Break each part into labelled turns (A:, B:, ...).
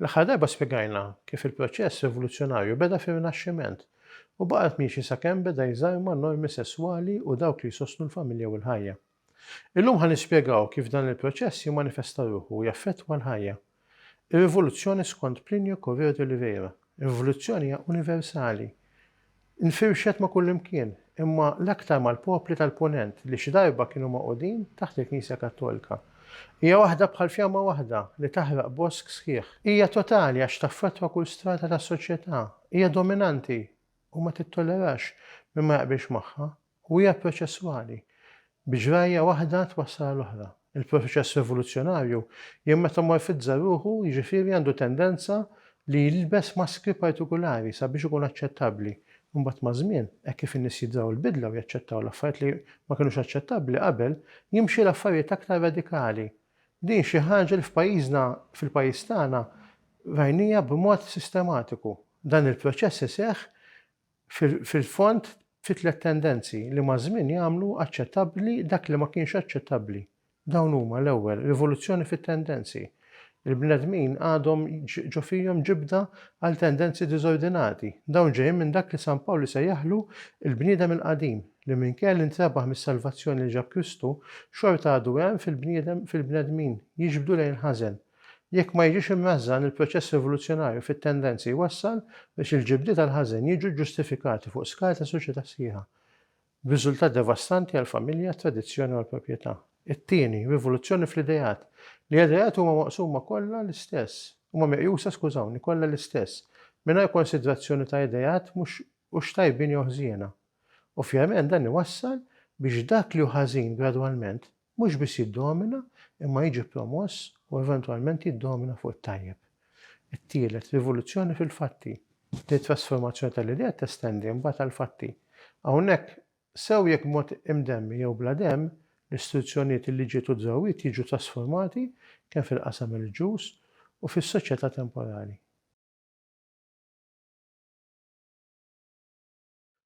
A: L-aħħar darba spjegajna kif il-proċess rivoluzzjonarju beda fir-Rinaxximent u baqgħet miexi sakemm beda jżarma n-normi sesswali u dawk li jsostnu l-familja u l-ħajja. Illum ħa nispjegaw kif dan il-proċess jimmanifesta ruħu u jaffettwa l-ħajja. Ir-rivoluzzjoni skont Plinio Correo de Oliveira, rivoluzzjoni hija universali. Infirxet ma' kullimkien, imma l-aktar mal-popli tal-Punent li xi darba kienu magħqudin taħt il-Knisja Kattolika. Hija waħda bħal fjamma waħda li taħraq bosk sħiħ. Hija totali għax taffettwa kull strata tas-soċjetà. Hija dominanti u ma tittollerax min ma jaqbilx magħha. u hija proċesswali, b'ġrajja waħda twassal għal oħra. Il-proċess rivoluzzjonarju jimmetamorfizza ruħu, jiġifieri għandu tendenza li jilbes maskri partikulari sabiex ikun aċċettabbli. Imbagħad maż-żmien, hekk kif in-nies jidraw l-bidla u jaċċettaw l-affarijiet li ma kinux aċċettabbli qabel, jimxi l-affarijiet aktar radikali. Din xi ħaġa li f'pajjiżna, fil-pajjiż tagħna, rajnija b'mod sistematiku. Dan il-proċess iseħħ fil-fond, fi tliet tendenzi li maż-żmien jagħmlu aċċettabbli dak li ma kienx aċċettabbli. Dawn huma, l-ewwel, rivoluzzjoni fit-tendenzi. Il-bnedmin għadhom ġo fihom ġibda għal tendenzi diżordinati. Dawn ġejjin minn dak li San Pawl isejjaħlu l-bniedem il-qadim, li minkejja li ntrebaħ mis-salvazzjoni li ġab Kristu, xorta għadu hemm fil-bniedem fil-bnedmin, jiġbdu lejn il-ħażen. Jekk ma jiġix imnażżan il-proċess evoluzzjonarju fit-tendenzi jwassal biex il-ġibdiet għall-ħażen jiġu ġġustifikati fuq skala ta' soċjetà sħiħa, b'riżultat devastanti għall-familja, għat-tradizzjoni u għall-proprjetà. It-tieni, rivoluzzjoni fl-ideat, li ideat huma maqsuma kollha l-istess, huma meqjusa, skużawni, kollha l-istess, mingħajr konsidrazzjoni ta' ideat mhux hux tajbin jew ħżiena. Ovvjament dan iwassal biex dak li hu ħażin gradwalment Mhux biss jiddomina, imma jiġi promoss u eventwalment jiddomina fuq it-tajjeb. It-tielet, rivoluzzjoni fil-fatti. Din it-trasformazzjoni tal-idea testendi mbagħad għall-fatti. Hawnhekk, sew jekk b'mod imdemmi jew bla demm, l-istituzzjonijiet, il-liġijiet u d-drawwiet jiġu trasformati kemm fil-qasam reliġjuż u fis-soċjetà temporali.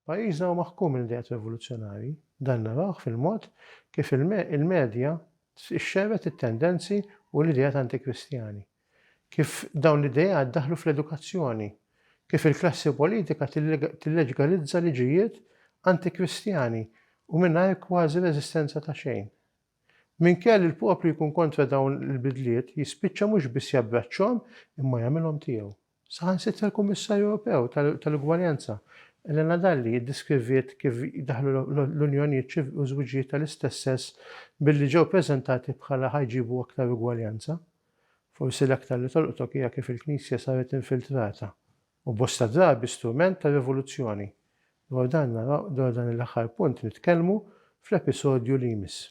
A: Pajjiżna huwa maħkum minn ideat rivoluzzjonarji. Dan narawh fil-mod kif il-medja xxerred it-tendenzi u l-ideat antikristjani, kif dawn l-ideat daħlu fl-edukazzjoni, kif il-klassi politika tilleġgalizza liġijiet antikristjani u mingħajr kważi reżistenza ta' xejn. Minkejja li l-poplu jkun kontra dawn il-bidliet, jispiċċa mhux biss jabbraċċhom imma jagħmilhom tiegħu. Saħansitra l-Kummissarju Ewropew tal-Ugwaljanza, Elena Dalli, iddeskriviet kif daħlu l-unjonijiet u ż-żwiġijiet tal-istess sess billi ġew preżentati bħala ħa jġibu aktar ugwaljanza. Forsi l-aktar li tolqtok hija kif il-Knisja saret infiltrata, u bosta drabi strument ta' rivoluzzjoni. Dwar dan naraw dwar dan l-aħħar punt nitkellmu fl-episodju li jmiss.